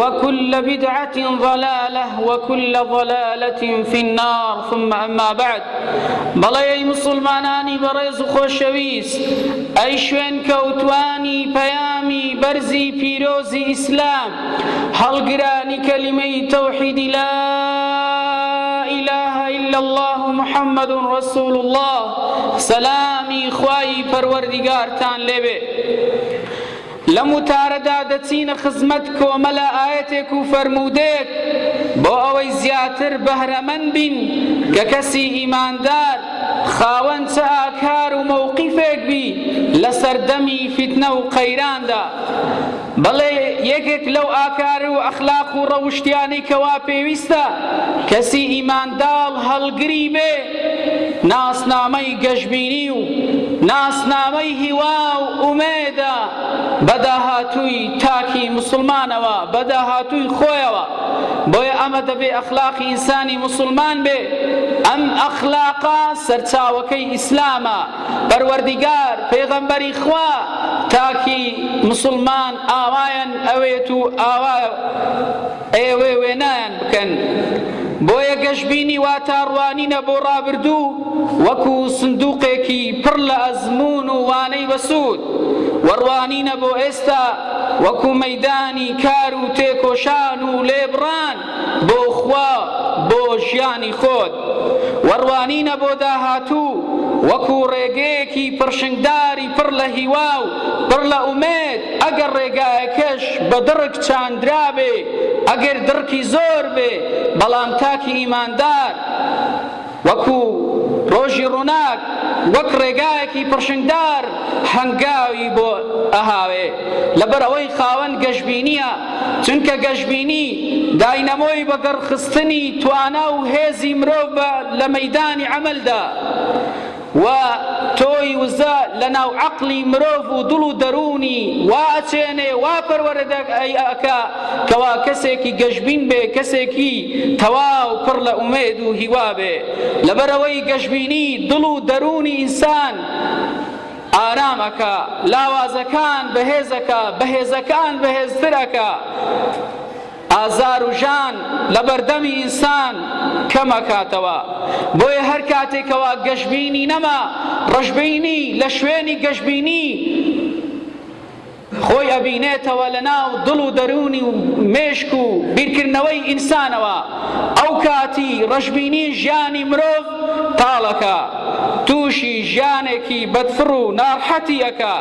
وکل بدعە ضلالە وکل ضلالە فی النار ثم اما بعد بەڵێ ئەی مسلمانانی بەڕێز و خۆشەویست ئەی شوێن کەوتوانی پەیامی بەرزی پیرۆزی ئیسلام هەڵگرانی کەلیمەی تەوحیدی لا إله إلا الله محمد رسول الله سلامی خوای پەروەردگارتان لێبێ لەم وتارەدا دەچینە خزمەت کۆمەلە ئایەتێک و فەرموودەیەک بۆ ئەوەی زیاتر بەهرەمەند بین کە کەسی ئیماندار خاوەن چ ئاکار و مەوقیفێک بی لە سەردەمی فیتنە و قەیراندا بەڵێ یەکێک لەو ئاکار و ئەخلاق و ڕەوشتیانەی کەوا پێویستە کەسی ئیمانداڵ هەڵگری بێ ناسنامەی گەشبینی و ناسنامەی هیوا و ئومێدە بە داهاتووی تاکی موسڵمانەوە، بە داهاتووی خۆیەوە، بۆیە ئەمە دەبێ ئەخلاقی ئینسانی موسڵمان بێ، ئەم ئەخلاقە سەرچاوەکەی ئیسلامە، پەروەردیگار، پێغەمبەری خوا، تاکی موسڵمان ئاوایان ئەوێت و ئاوا. ئێوە وێنایان بکەن. بۆیە گەشبینی واتا ڕوانینە بۆ ڕابردوو وەکو سندوقێکی پڕ لە ئەزموون و وانەی بەسوود و ڕوانینە بۆ ئێستا وەکو مەیدانی کار و تێکۆشان و لێبڕان بۆ خوا بۆ ژیانی خۆت. و ڕوانینە بۆ داهاتوو وەکو ڕێگەیەکی پڕشنگداری پڕ لە هیوا و پڕ لە ئومێد، ئەگەر ڕێگایەکەش بە دڕک چاندرابێ، ئەگەر دڕکی زۆر بێ، بەڵام تاکی ئیماندار وەکو ڕۆژی ڕووناک وەک ڕێگایەکی پڕشنگدار هەنگاوی بۆ ئەهاوێ، لەبەر ئەوەی خاوەن گەشبینییە. چونکە گەشبینی داینەمۆی بەگەڕخستنی توانا و هێزی مرۆڤە لە مەیدانی عەمەلدا و تۆی وزە لە ناو عەقڵی مرۆڤ و دڵ و دەروونی وا ئەچێنێ وا پەروەردە ئەکا کەوا کەسێکی گەشبین بێ کەسێکی تەواو پڕ لە ئومێد و هیوا بێ لەبەرەوەی گەشبینی دڵ و دەروونی ئینسان ئارام ئەکا لاوازەکان بەهێز ئەکا بەهێزەکان بەهێزتر ئەکا ئازار و ژان لە بەردەمی ئینسان کەم ئەکاتەوە بۆیە هەر کاتێکەوە گەشبینی نەما ڕەشبینی لە شوێنی گەشبینی خۆی ئەبینێتەوە لە ناو دڵ و دەروونی و مێشک و بیرکردنەوەی ئینسانەوە، ئەو کاتی ڕەشبینی ژیانی مرۆڤ تاڵ ئەکا، تووشی ژیانێکی بەدفڕ و ناڕحەتی ئەکا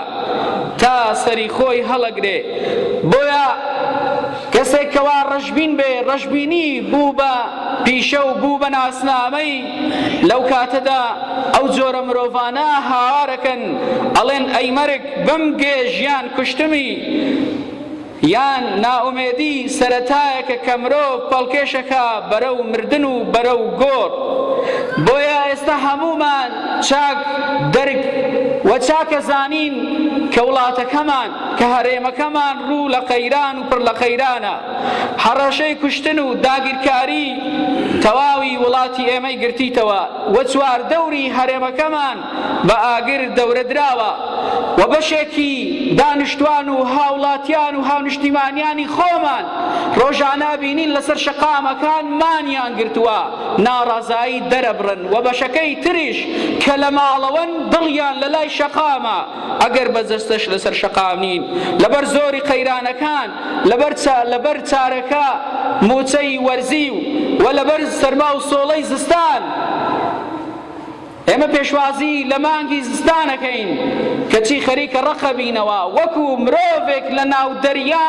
تا سەری خۆی هەڵەگرێ، بۆیە کەسێک کەوا ڕەشبین بێ، ڕەشبینی بوو بە پیشە و بوو بە ناسنامەی، لەو کاتەدا ئەو جۆرە مرۆڤانە هاوار ئەکەن ئەڵێن ئەی مەرگ! بمگێ ژیان کوشتمی یان نائومێدی سەرەتایەکە کە مرۆڤ پەڵکێشەکا بەرەو مردن و بەرەو گۆڕ بۆیە ئێستا هەموومان چاک دەرک و چاکە زانین کە وڵاتەکەمان کە هەرێمەکەمان ڕوو لە قەیران و پڕ لە قەیرانە هەڕەشەی کوشتن و داگیرکاری تەواوی وڵاتی ئێمەی گرتیتەوە و چواردەوری هەرێمەکەمان بە ئاگر دەورە دراوە و بەشێکی دانیشتوان و هاوڵاتیان و هاونیشتیمانیانی خۆمان ڕۆژانە بینین لەسەر شەقامەکان مانیان گرتووە ناڕەزایی دەرەبڕن و بەشەکەی تریش کە لە ماڵەوەن دڵیان لە لای شەقامە ئەگەر بە جەستەش لەسەر شەقام نین لەبەر زۆری قەیرانەکان لەبەر لەبەر چارەکە موچەی وەرزی و لەبەر سەرما و سۆڵەی زستان ئێمە پێشوازی لە مانگی زستان ئەکەین کەچی خەریکە ڕەقەبینەوە وەکو مرۆڤێک لە ناو دەریا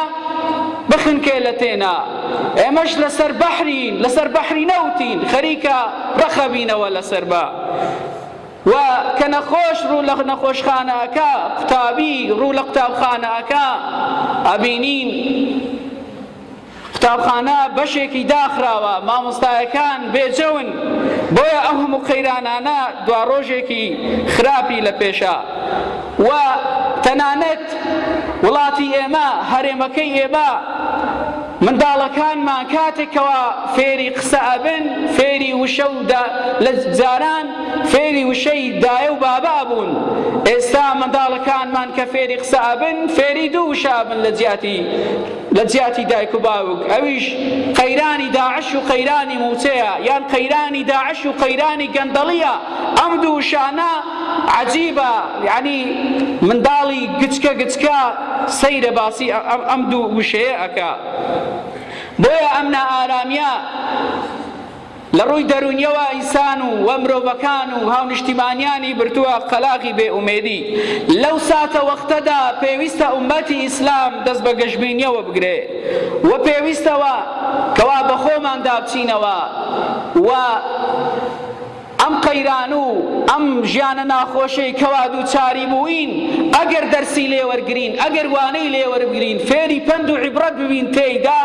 بخنکێ لە تێنا ئێمەش لەسەر بەحرین لەسەر بەحری نەوتین خەریکە ڕەقەبینەوە لەسەر بە و کە نەخۆش ڕوو لە نەخۆشخانەکە قوتابی ڕوو لە قوتابخانەکە ئەبینین قوتابخانە بەشێکی داخراوە، مامۆستایەکان بێجەون، بۆیە ئەو هەموو قەیرانانە دواڕۆژێکی خراپی لە پێشە و تەنانەت وڵاتی ئێمە، هەرێمەکەی ئێمە، منداڵەکانمان کاتێک کەوا فێری قسە ئەبن، فێری وشە و دا، لە جاران فێری وشەی دایە و بابا بوون، ئێستا منداڵەکانمان کە فێری قسە ئەبن، فێری دوو وشە ئەبن لە جیاتی. لە جیاتی دایک و باوک ئەویش قەیرانی داعش و قەیرانی موچەیە یان قەیرانی داعش و قەیرانی گەندەڵیە ئەم دوو شانە عجیبە یعنی منداڵی گچکە گچکە سەیرە باسی ئەم دوو وشەیە ئەکا بۆیە ئەم نائارامیە لە ڕووی دەروونیەوە ئینسان و و مرۆڤەکان و هاونیشتیمانیانی بردووە قەلاغی بێ ئومێدی. لەو ساتە وەختەدا پێویستە ئوممەتی ئیسلام دەست بە گەشبینیەوە بگرێ و پێویستەوە کەوا بە خۆماندا بچینەوە و ئەم قەیران و ئەم ژیانە ناخۆشەی کەوا دووچاری بووین ئەگەر دەرسی لێوەرگرین، ئەگەر وانەی لێوەربگرین، فێری پەند و عیبڕەت ببین تێیدا،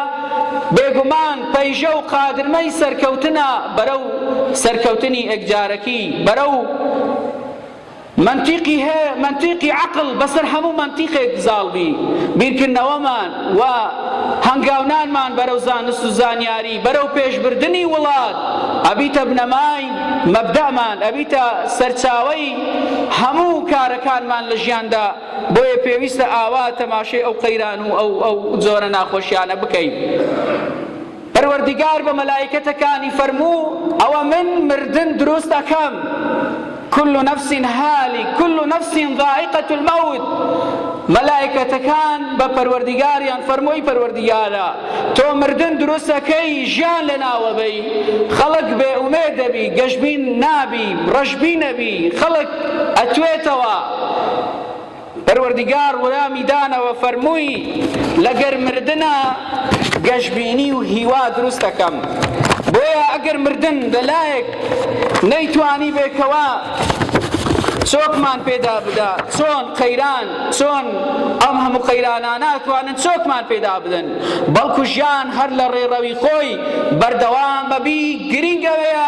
بێگومان پەیژە و قادرمەی سەرکەوتنە بەرەو سەرکەوتنی ئێکجارەکی بەرەو مەنتیقی هه مەنتیقی عەقڵ بەسەر هەموو مەنتیقێک زاڵبی بیرکردنەوەمان و هەنگاونانمان بەرەو زانست و زانیاری بەرەو پێشبردنی وڵات ئەبیتە بنەمای مەبدەمان ئەبیتە سەرچاوەی هەموو کارەکانمان لە ژیاندا بۆیە پێویستە ئاوا تەماشەی ئەو قەیران و ئەو ئەو جۆرە ناخۆشیانە بکەین پەروەردیگار بە مەلایکەتەکانی فەرموو ئەوە من مردن دروست دەکەم كل نفس هالك كل نفس ضائقة الموت مەلایکەتەکان بە پەروەردیگاریان فەرمۆی پەروەردیگارە تۆ مردن دروستەکەی ژیان لە ناوەبەی خەڵک بێ ئومێ دەبی گەشبین نابی ڕەشبی نەبی خەڵک ئەتوێتەوە پەروەردگار ولامی دانەوە فەرمووی لەگەر مردنا گەشبینی و هیوا دروست دەکەم بۆیە ئەگەر مردن لەلایەک نەیتوانی بێکەوە چۆکمان پێدا بدا چۆن قەیران چۆن ئەم هەموو قەیرانە ناتوانن چۆکمان پێدا بدەن بەڵکو ژیان هەر لە ڕێڕەوی خۆی بەردەوام بەبی گرنگەوەیە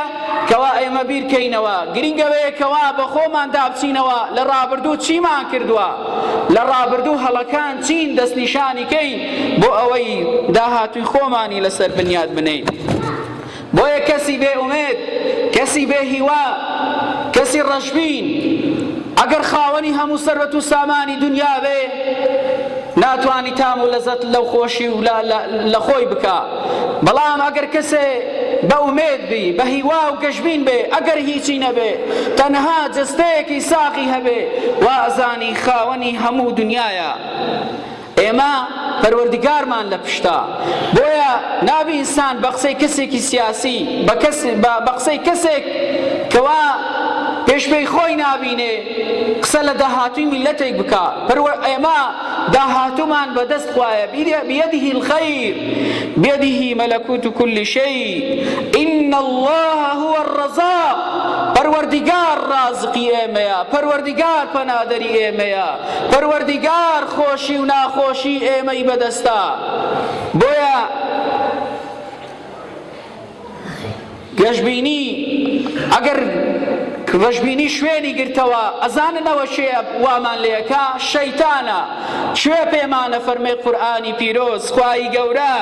کوا ئێمە بیرکەینەوە گرینگە وەیە کوا بەخۆمان دابچینەوە لە ڕابردوو چیمان کردوە لە ڕابردوو هەڵەکان چین دەستنیشانی کەین بۆ ئەوەی داهاتووی خۆمانی لەسەر بنیاد بنەین بۆیە کەسی بێ ئومێد کەسی بێ هیوا کەسی ڕەشبین ئەگەر خاوەنی هەموو سەرەت و سامانی دنیا بێ ناتوانی تام و لەزەت لەو خۆشی و لە خۆی بکە بەڵام ئەگەر کەسێ بە ئومێد بی، بە هیوا و گەشبین بێ، ئەگەر هیچی نەبێ، تەنها جەستەیەکی ساغی هەبێ، وازانی خاوەنی هەموو دونیایە. ئێمە پەروەردگارمان لە پشتە. بۆیە نابی ئینسان بە قسەی کەسێکی سیاسی، بە قسەی کەسێک کەوا پێش پێی خۆی نابینێ، قسە لە داهاتووی میللەتێک بکا. ئێمە. داهاتوومان بە دەست خوایە بیەدیه الخیر بیەدیه ملکوت کل شیء ان اللە هو الرزاق پەروەردیگار ڕازقی ئێمەیە پەروەردیگار پەنادەری ئێمەیە پەروەردیگار خۆشی و ناخۆشی ئێمەی بەدەستە بۆیە گەشبینی، ئەگەر گەشبینی شوێنی گرتەوە ئەزانن ئەوە کێ وامان لێکا شەیتانە کوێ پێمانە فەرمێ قورئانی پیرۆز خوایی گەورە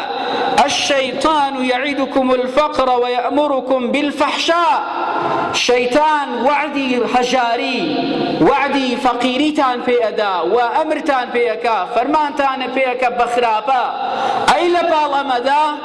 الشیطان یعیدکم الفقر ویأمرکم بالفحشاء شەیتان وعدی هەژاری وعدی فەقیریتان پێ ئەدا و ئەمرتان پێ ئەکا فەرمانتان پێ ئەکا بە خراپە ئەی لە پاڵ ئەمەدا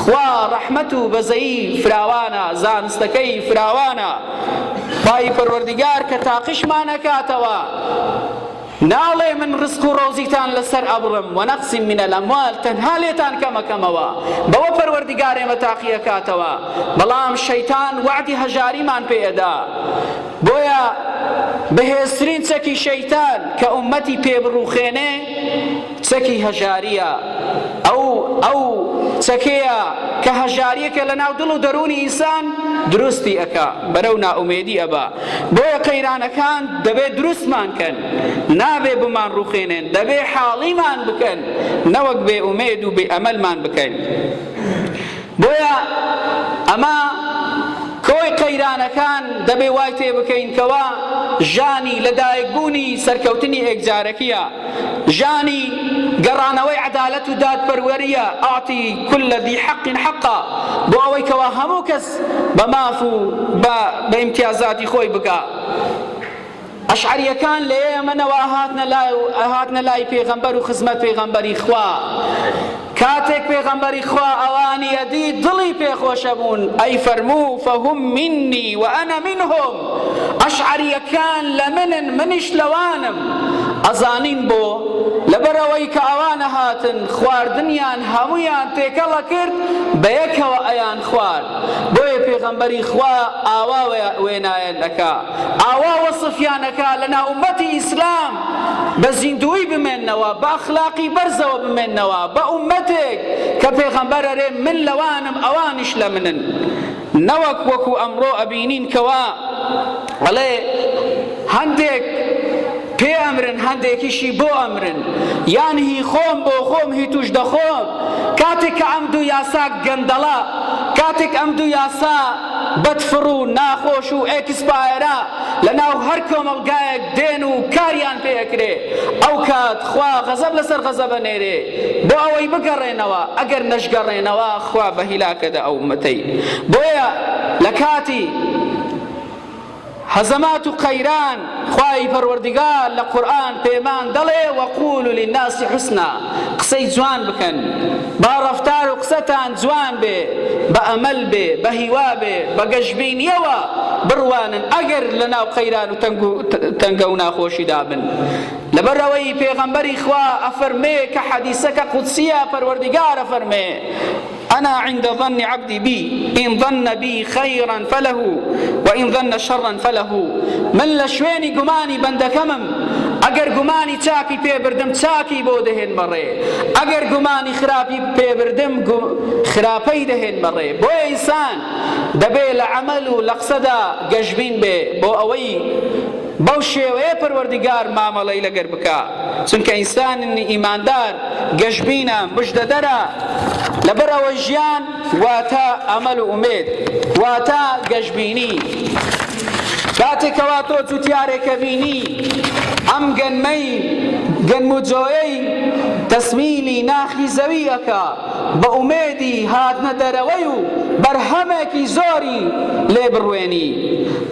خوا ڕەحمەت و بەزەیی فراوانە زانستەکەی فراوانە خوای پەروەردگار کە تاقیشمان ئەکاتەوە ناڵێ من ڕزق و ڕۆزیتان لەسەر ئەبڕم و نەقسی من الاموال تەنها لێتان کەمەکەمەوە بەوە پەروەردگار ئێمە تاقی ئەکاتەوە بەڵام شەیتان وەعدی هەژاریمان پێ ئەدا بۆیە بەهێزترین چەکی شەیتان کە ئومەتی پێ بڕوخێنێ چەکی هەژارییە، ئەو ئەو چەکەیە کە هەژارییەکە لە ناو دڵ و دەروونی ئینسان دروستی ئەکا، بەرەو نائومێدی ئەبا، بۆیە قەیرانەکان دەبێ دروستمان کەن، نابێ بمانڕوخێنێن، دەبێ حاڵیمان بکەن، نەوەک بێ ئومێد و بێ ئەمەلمان بکەن. بۆیە ئەمە کۆی قەیرانەکان دەبێ وای تێ بکەین کەوا ژانی لە دایک بوونی سەرکەوتنی ئێکجارەکیە ژانی گەڕانەوەی عەدالەت و دادپەروەریە ئەعتی کولە ذی حەق حەقە بۆ ئەوەی کەوا هەموو کەس بە ماف و بە ئیمتیازاتی خۆی بگا ئەشعەریەکان لە یەمەنەوە ئەهاتنە لای و ئەهاتنە لای پێغەمبەر و خزمەت پێغەمبەری خوا کاتێک پێغەمبەری خوا ئەوانی ئەدی دڵی پێخۆشە بوون ئەی فەرموو فەهم منی و ئەنە منهم ئەشعەریەکان لە منن منیش لەوانم ئەزانین بۆ لەبەرەوەی کە ئەوانە هاتن خواردنیان هەمویان تێکەڵە کرد بە یەکەوە ئەیان خوارد بۆیە پێغەمبەری خوا ئاوا وێنایان ئەکا ئاوا وەسفیان ئەکا لە ناو ئومەتی ئیسلام بە زیندووی بمێنەوە بە ئەخلاقی بەرزەوە بمێنەوە بە ئومەتێک کە پێغەمبەر ئەرێ من لەوانم ئەوانیش لە منن نەوەک وەکو ئەمڕۆ ئەبینین کەوا ئەڵێ هەندێک پێ ئەمرن هەندێکیشی بۆ ئەمرن یان هی خۆم بۆ خۆم هی توش دەخۆم کاتێک کە ئەم دوو یاسا گەندەڵە کاتێک ئەم دوو یاسا بەد فڕ و ناخۆش و ئێکسپایەرە لە ناو هەر کۆمەڵگایەک دێن و کاریان پێ ئەکرێ ئەو کات خوا غەزەب لەسەر غەزەب ئەنێرێ بۆ ئەوەی بگەڕێنەوە ئەگەر نەشگەڕێنەوە خوا بە هیلاکە دە ئەو ئومەتەی بۆیە لە کاتی هەزەمات و قەیران، خوای پەروەردگار لە قورئان پێمان دەڵێ وقولوا للناس حسنا قسەی جوان بکەن، با ڕەفتار و قسەتان جوان بێ، بە ئەمەل بێ، بە هیوا بێ، بە گەشبینیەوە بڕوانن ئەگەر لە ناو قەیران و تەنگە و ناخۆشیدا بن، لەبەر ئەوەی پێغەمبەری خوا ئەفەرمێ کە حەدیسەکە قودسیە پەروەردگار ئەفەرمێ. انا عند ظن عبدی بی ان ظن بی خیرا فله وان ظن شرا فله من لە شوێنی گومانی بەندەکەمم ئەگەر گومانی چاکی پێ بردم چاکی بۆ دەهێن بەڕێ ئەگەر گومانی خراپی پێ بردم خراپەی دەهێن بەڕێ بۆیە ئینسان دەبێ لە عەمەل و لە قسەدا گەشبین بێ بۆ ئەوەی بەو شێوەیە پەروەردگار مامەڵەی لەگەر بکا، چونکە ئینسانن ئیماندار گەشبینە، مژدەدەرە، لەبەر ئەوەی ژیان واتە ئەمەل و ئومێد واتە گەشبینی، کاتێ کەوا تۆ جوتیارێکە بینی ئەم گەنمەی گەنم و جۆیەی تەسمیلی ناخی زەوی ئەکا، بە ئومێدی هاتنە دەرەوەی و بەرهەمێکی زۆری لێ بڕوێنی.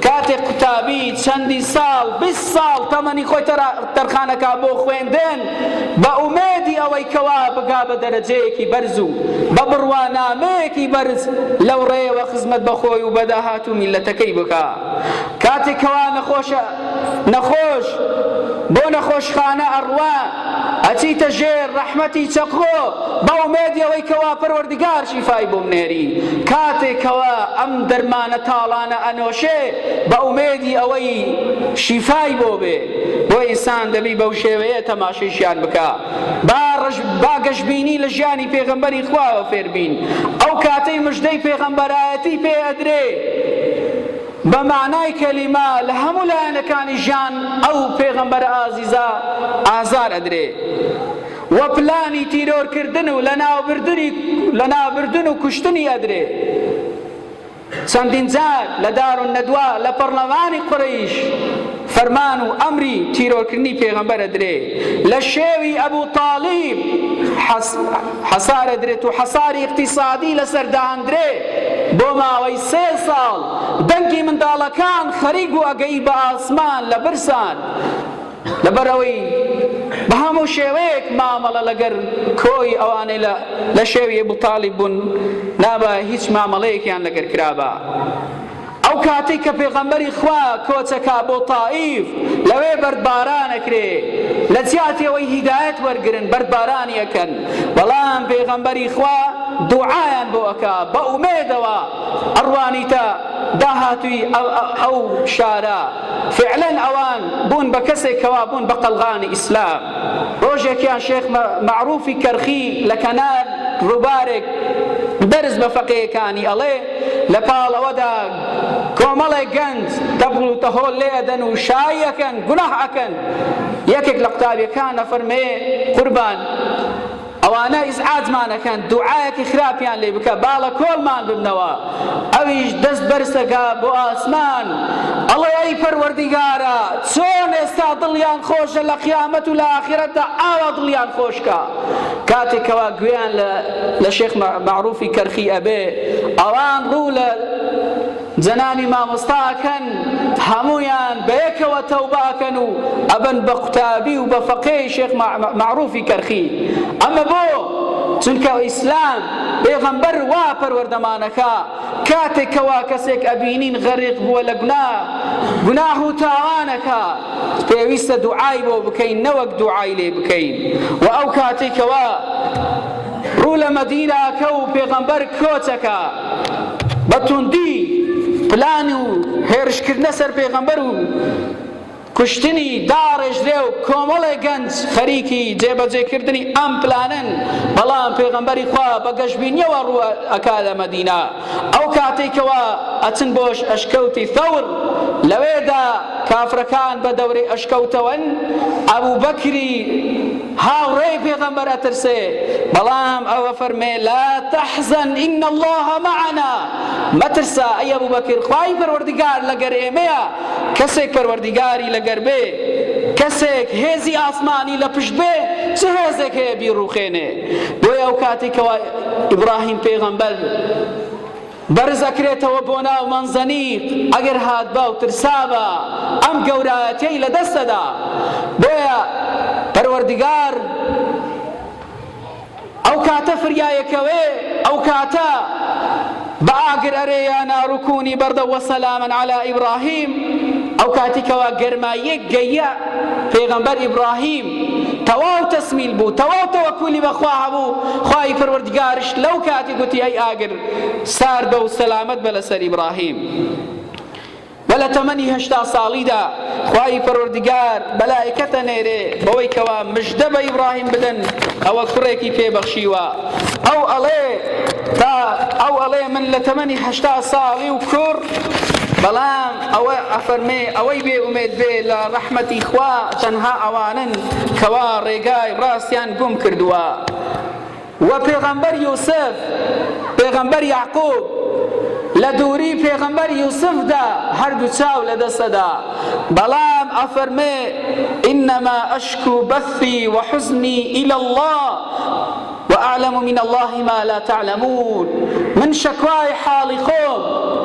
کاتێک قوتابی چەندی ساڵ، بیست ساڵ، تەمەنی خۆی تەرخانەکا بۆ خوێندن، بە ئومێدی ئەوەی کەوا بگا بە دەرەجەیەکی بەرز و بە بڕوانامەیەکی بەرز لەو ڕێیەوە خزمەت بە خۆی و بە داهاتوو میللەتەکەی بکا. کاتێک کەوا نەخۆش. نەخۆش بۆ نەخۆشخانە ئەڕوا ئەچیتە ژێر ڕەحمەتی چەقۆ بە ئومێدیەوەی کەوا پەروەردگار شیفای بۆ بنێری کاتێ کەوا ئەم دەرمانە تاڵانە ئەنۆشێ بە ئومێدی ئەوەی شیفای بۆ بێ بۆ ئینسان دەبی بەو شێوەیە تەماشەی ژیان بکا با ڕژ با گەشبینی لە ژیانی پێغەمبەری خواوە فێربین ئەو کاتەی مژدەی پێغەمبەرایەتی پێ ئەدرێ بە مەعنای کەلیمە لە هەموو لایەنەکانی ژیان ئەو پێغەمبەرە ئازیزە ئازار ئەدرێ و پلانی تیرۆر کردن و لەناوبردنی لەنابردن و کوشتنی ئەدرێ چەندین جار لە دار و نەدوا لە پەڕلەمانی قورەیش فەرمان و ئەمری تیرۆرکردنی پێغەمبەر ئەدرێ لە شێوی ئەبو تالیب حەسار ئەدرێت و حەساری ئیقتیسادی لەسەر داندرێ بۆ ماوەی سێ ساڵ دەنگی منداڵەکان خەریک بوو ئەگەی بە ئاسمان لە برسان لەبەرەوەی بە هەموو شێوەیەک مامەڵە لەگەر کۆی ئەوانەی لە شێوی ئەبو تالیب بوون نابایە هیچ مامەڵەیەکیان لەگەر کرابا ئەو کاتەی کە پێغەمبەری خوا کۆچەکا بۆ تائیف لەوێ بەردباران ئەکرێ لەجیاتی ئەوەی هیدایەت وەرگرن بەردبارانی ئەکەن بەڵام پێغەمبەری خوا دوعایان بۆ ئەکا بە ئومێدەوە ئەڕوانیتە داهاتووی ئەو شارە فعلەن ئەوان بوون بە کەسێک کەوا بوون بە قەڵغانی ئیسلام ڕۆژێکیان شێخ مەعروفی کەرخی لە کەنار ڕووبارێک دەرس بە فەقێیەکانی ئەڵێ لە پاڵ ئەوەدا کۆمەڵێک گەنج تەبڵ و تەهۆڵ لێ ئەدەن و شایی ئەکەن، گوناح ئەکەن. یەکێک لە قوتابیەکان ئەفەرمێ، قوربان ئەوانە ئیزعاجمان ئەکەن، دوعایەکی خراپیان لێ بکە با لە کۆڵمان ببنەوە. ئەویش دەست بەرز ئەکا بۆ ئاسمان ئەڵێ، ئەی پەروەردیگارا چۆن ئێستا دڵیان خۆشە لە قیامەت و لە ئاخرەتدا ئاوا دڵیان خۆش کە. کاتێ کەوا گوێیان لە لە شێخ مەعروفی کەرخی ئەبێ ئەوان ڕوو لە جەنانی مامۆستاکەن هەمویان بەیەکەوە تەوباکەن و ئەبن بە قوتابی و بە فەقێ شێخ معروفی کەرخی ئەمە بۆ چونکە ئیسلام پێغەمبەر وا پەروەردەمانەکە کاتێک کەوا کەسێک ئەبینین غەریق بووە لە گونا گوناح و تاوانەکە پێویستە دوعای بۆ بکەین نەوەک دوعای لێ بکەین و ئەو کاتێک کەوا ڕوو لە مەدیناکە و پێغەمبەر کۆچەکە بە توندی پلان و هێرشکردنە سەر پێغەمبەر و کوشتنی داڕێژرێ و کۆمەڵێ گەنج خەریکی جێبەجێکردنی ئەم پلانەن، بەڵام پێغەمبەری خوا بە گەشبینیەوە ڕوو ئەکا لە مەدینە، ئەو کاتەی کەوا ئەچن بۆ ئەشکەوتی ثەور لەوێدا کافرەکان بە دەورەی ئەشکەوتەوەن، ئەبوبەکری هاوڕێی پێغەمبەر ئەترسێ، بەڵام ئەو ئەفەرمێ، لا تحزن ان اللە معنا، مەترسە ئەی ئەبوبەکر خوای پەروەردگار لەگەر ئێمەیە، کەسێک پەروەردیگاری لەگەر بێ، کەسێک هێزی ئاسمانی لە پشت بێ، چ هێزێک هەیە بیڕووخێنێ؟ بۆیە ئەو کاتی کەوا ئیبراهیم پێغەمبەر بەرز ئەکرێتەوە بۆ ناو مەنزەنیق ئەگەر هاتبا و ترسابا ئەم گەورایەتیەی لە دەستەدا بۆیە پەروەردگار ئەو کاتە فریایەکەوێ ئەو کاتە بە ئاگر ئەرێ یا نارو کونی بەردە وەسەلامن عەلا ئیبراهیم ئەو کاتی کەوا گەرماییەک گەیە پێغەمبەر ئیبراهیم تەواو تەسمیل بوو تەواو تەوەکولی بەخوا هەبوو خوای پەروەردگارش لەو کاتی گوتی ئەی ئاگر ساردە و سەلامەت بە لەسەر ئیبراهیم وە لە تەمەنی هەشتا ساڵیدا خوای پەروەردگار مەلائیکەتە نێرێ بەوەی کەوا مژدە بە ئیبڕاهیم بدەن ئەوە کوڕێکی پێ بەخشیوە ئەو ئەڵێ تا ئەو ئەڵێ من لە تەمەنی هەشتا ساڵی و کوڕ بەڵام ئەوە ئەفەرمێ ئەوەی بێ ئومێد بێ لە ڕەحمەتی خوا تەنها ئەوانن کەوا ڕێگای ڕاستیان گوم کردووە وە پێغەمبەر یوسف پێغەمبەر یەعقوب لە دووری پێغەمبەر یوسفدا هەردوو چاو لە دەسەدا بەڵام ئەفەرمێ ئینما ئەشکو بەثی وحزنی الى الله وأعلم من الله ما لا تعلمون من شەکوای حاڵی خۆم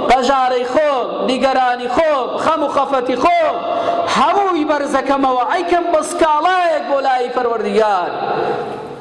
پەژارەی خۆم نیگەرانی خۆم خەم و خەفەتی خۆم هەمووی بەرزەکەمەوە ئەیکەم بە سکاڵایەک بۆ لای پەروەردگار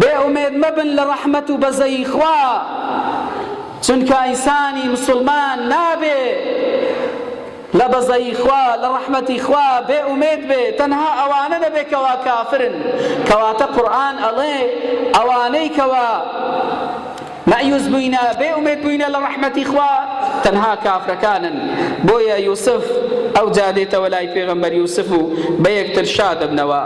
بێ ئومێد مەبن لە ڕەحمەت و بەزەیی خوا چونکە ئینسانی مسوڵمان نابێ لە بەزەیی خوا لە ڕەحمەتی خوا بێ ئومێد بێ تەنها ئەوانە نەبێ کەوا کافرن کەواتە قورئان ئەڵێ ئەوانەی کەوا مەئیوس بووینە، بێ ئومێد بووینە لە ڕەحمەتی خوا، تەنها کافرەکانن، بۆیە یوسف ئەوجا دێتەوە لای پێغەمبەر یوسف و بەیەکتر شادەبنەوە.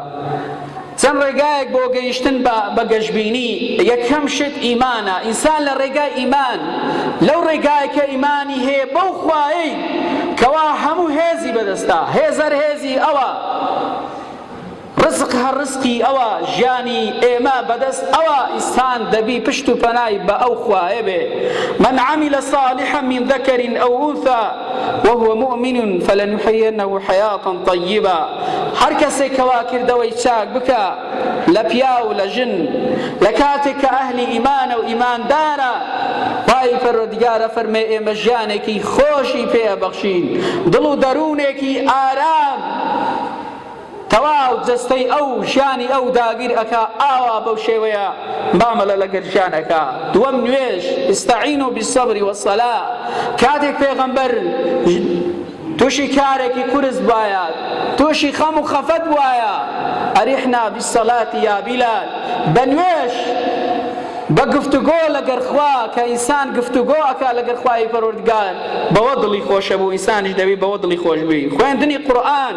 چەند ڕێگایەک بۆ گەیشتن بە گەشبینی، یەکەم شت ئیمانە، ئینسان لە ڕێگای ئیمان، لەو ڕێگایە کە ئیمانی هەیە بەو خوایەی کەوا هەموو هێزی بەدەستە، هێزەر هێزی ئەوە، ڕزق هە ڕزقی ئەوە ژیانی ئێمە بە دەست ئەوە ئیسان دەبی پشت و پەنای بە ئەو خوایە بێ من عمل صالحا من ذکر او انثی وهو مؤمن فلنحینه حیاتا طیبا هەر کەسێک کەوا کردەوەی چاک بکە لە پیاو لە ژن لە کاتێک کە ئەهلی ئیمانە و ئیماندارە خوای پەروەردگارە فەرمێ ئێمە ژیانێکی خۆشی پێ ئەبەخشین دڵ و دەروونێکی ئارام تەواو جەستەی ئەو ژیانی ئەو داگیر ئەکا ئاوا بەو شێوەیە مامەلە لەگەر ژیان ئەکا دووەم نوێژ استعینوا بالصبر والصلاة کاتێک پێغەمبەر توشی کارێکی قورس بوایە توشی خەم و خەفەت بوایە ئەریحنا بالصلاة یا بلال بە نوێژ بە گفتوگۆ لەگەر خوا کە ئینسان گفتوگۆ ئەکا لەگەر خوای پەروەردگار بەوە دڵی خۆشە بوو ئینسانیش دەبی بەوە دڵی خۆش بووی خوێندنی قورئان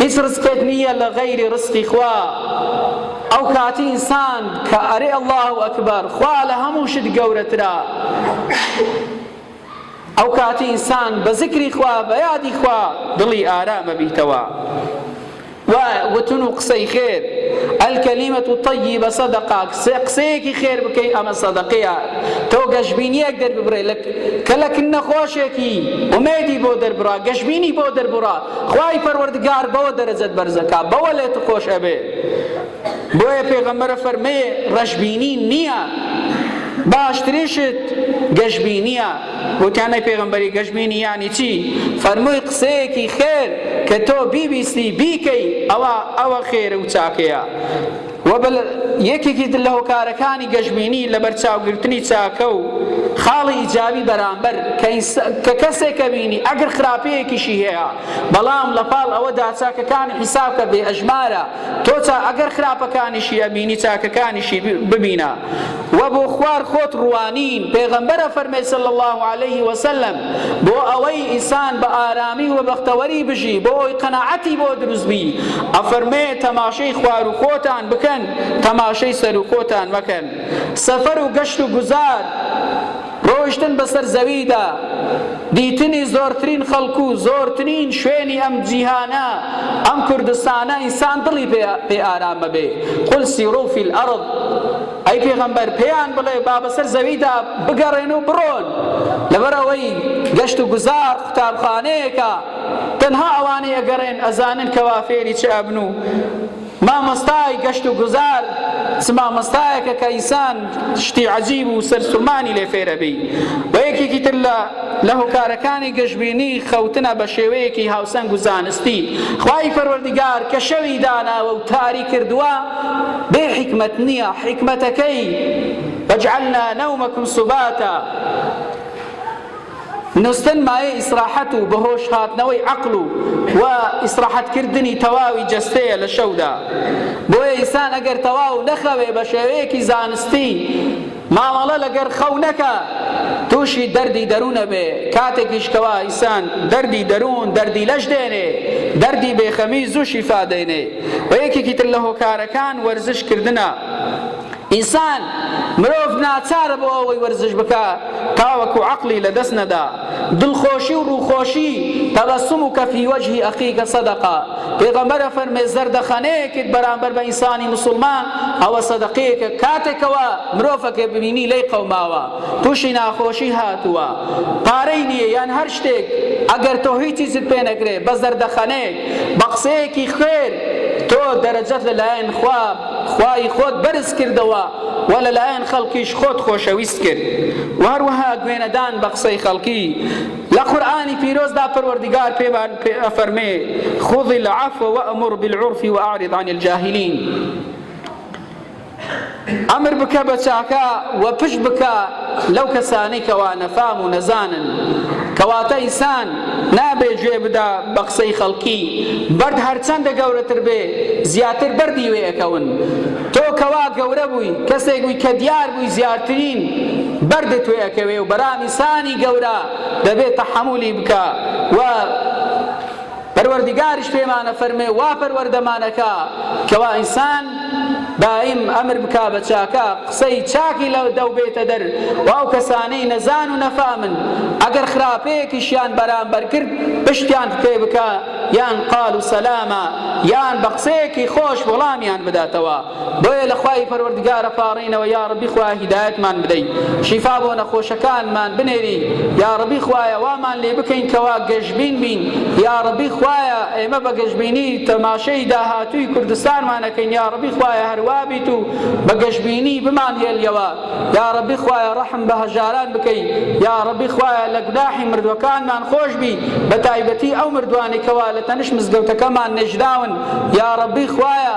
هیچ ڕزقێک نییە لە غەیری ڕزقی خوا ئەوکاتی ئینسان کە ئەرێ اللە و ئەکبەر خوا لە هەموو شت گەورەترە ئەو کاتی ئینسان بە زکری خوا بە یادی خوا دڵی ئارامە بیتەوە و وتن و قسەی خێر ئەلکەلیمەت و تەیی بە سەدەقا قسەیەکی خێر بکەی ئەمە سەدەقەیە تۆ گەشببینیەک دەرببرێ لە کە لە کن نەخۆشێکی ئومێدی بۆ دەربرا گەشببینی بۆ دەربڕا خوای پەروەردگار بەوە دەرەجەت بەرزەکا بەوە لێت خۆش ئەبێ بۆیە پێغەمبەرە فەرمێ ڕەشبینی نییە باشترین شت گەشبینیە وتیانەی پێغمبەری گەشبینی یانی چی فەرمووی قسەیەکی خێر کە تۆ بیبیستی بیکەی ئەوە ئەوە خێر و چاکەیە وە بە یەکێکی تر لە هۆکارەکانی گەشبینی لەبەرچاوگرتنی چاکە و خاڵی ئیجابی بەرامبەر کە کەسێک ئەبینی ئەگەر خراپەیەکیشی هەیە بەڵام لەپاڵ ئەوەدا چاکەکانی حیسابکە بێ ئەژمارە تۆ ئەگەر خراپەکانیشی ئەبینی چاکەکانیشی ببینە وە بۆ خوار خۆت ڕوانین پێغەمبەر ئەفەرمێ صلی اللە علیە وسلم، بۆ ئەوەی ئیسان بە ئارامی و بەختەوەری بژی بۆ ئەوەی قەناعەتی بۆ دروست بی ئەفەرمێ تەماشەی خوار و خۆتان بکەن تەماشەی سەر و خۆتان مەکەن سەفەر و گەشت و گوزار ڕۆیشتن بەسەر زەویدا، دیتنی زۆرترین خەڵک و زۆرترین شوێنی ئەم جیهانە، ئەم کوردستانە ئینسان دڵی پێ ئارام مەبێ، قل سیرو فی الارض، ئەی پێغەمبەر پێیان بڵێ با بەسەر زەویدا بگەڕێن و بڕۆن، لەبەر ئەوەی گەشت و گوزار قوتابخانەیەکە، تەنها ئەوانەی ئەگەڕێن ئەزانن کەوا فێری چ ئەبن و مامۆستای گەشت و گوزار چ مامۆستایەکە کە ئینسان شتی عەجیب و سەرسوڕمانی لێ فێر ئەبی و یەکێکی تر لە لە هۆکارەکانی گەشبینی خەوتنە بە شێوەیەکی هاوسەنگ و زانستی خوای پەروەردگار کە شەوی داناوە و تاری کردووە بێ حیکمەت نییە حیکمەتەکەی وجعلنا نومکم سباتا نوستن مایەی ئیسراحەت و بەهۆش هاتنەوەی عەقڵ و و ئیسراحەت کردنی تەواوی جەستەیە لە شەودا بۆیە ئینسان ئەگەر تەواو نەخەوێ بە شێوەیەکی زانستی مامەڵە لەگەر خەو نەکا توشی دەردی دەرون ئەبێ کاتێکیش کەوا ئینسان دەردی دەرون دەردی لەش دێنێ دەردی بێخەمی زوو شیفا دێنێ و یەکێکی تر لە هۆکارەکان وەرزش کردنە ئینسان، مرۆڤ، ناچارە بۆ ئەوەی وەرزش بکا تاوەکو عەقڵی لە دەست نەدا. دڵخۆشی و ڕووخۆشی، تبسمک فی وجه اخیک صدقە، پێغەمبەر ئەفەرموێ زەردەخەنەیەکت بەرامبەر بە ئینسانی موسڵمان ئەوە سەدەقەیەکە، کاتێک کەوا مرۆڤەکە ببینی لێی قەوماوە، تووشی ناخۆشی هاتووە، پارەی نییە یان هەر شتێک، ئەگەر تۆ هیچیچت پێ نەکرێ، بە زەردەخەنەیەک، بە قسەیەکی خوێر، تۆ دەرەجەت لە لایەن خوا، خوای خۆت بەرز کردەوە و لەلایەن خەڵکیش خۆت خۆشەویست کرد و هەروەها گوێنەدان بە قسەی خەڵکی، لە قورئانی پیرۆزدا پەروەردگار پێمان ئەفەرمێ، خذ العفو وامر بالعرف واعرض عن الجاهلین، ئەمر بکە بە چاکە و پشت بکە لەو کەسانەی کەوا نەفام و نەزانن کەواتە ئینسان نابێ گوێ بدا بە قسەی خەڵکی بەرد هەرچەندە گەورەتر بێ زیاتر بەردی وێ ئەکەون تۆ کەوا گەورە بووی کەسێک بووی کە دیار بووی زیاترین بەردت وێ ئەکەوێ و بەرام ئینسانی گەورە دەبێ تەحەمولی بکا و پەروەردگاریش پێمان ئەفەرموێ وا پەروەردەمان ئەکا کەوا ئینسان دایم ئەمر بکا بە چاکە قسەی چاکی لە دەو بێتە دەر و ئەو کەسانەی نەزان و نەفامن ئەگەر خراپەیەکیشیان بەرامبەر کرد پشتیان پێ بکا یان قالو سەلامە یان بە قسەیەکی خۆش وەڵامیان بداتەوە. بۆیە لە خوای پەروەردگارە پاڕێینەوە یاڕەبی خوایە هیدایەتمان بدەی شیفا بۆ نەخۆشەکانمان بنێری یاڕەبی خوایە وامان لێ بکەین کەوا گەشبین بین یاڕەبی خوایە ئێمە بە گەشبینی تەماشەی داهاتووی کوردستانمانەکەین یاڕەبی خوایە هەروابیت و بە گەشبینی بمان هێلیەوە یاڕەبی خوایە ڕەحم بە هەژاران بکەی یاڕەبی خوایە لە گوناحی مردوەکانمان خۆش بی بە تایبەتی ئەو مردوانەی کەوا لە تەنش مزگەوتەکەمان نێژراون یاڕەبی خوایە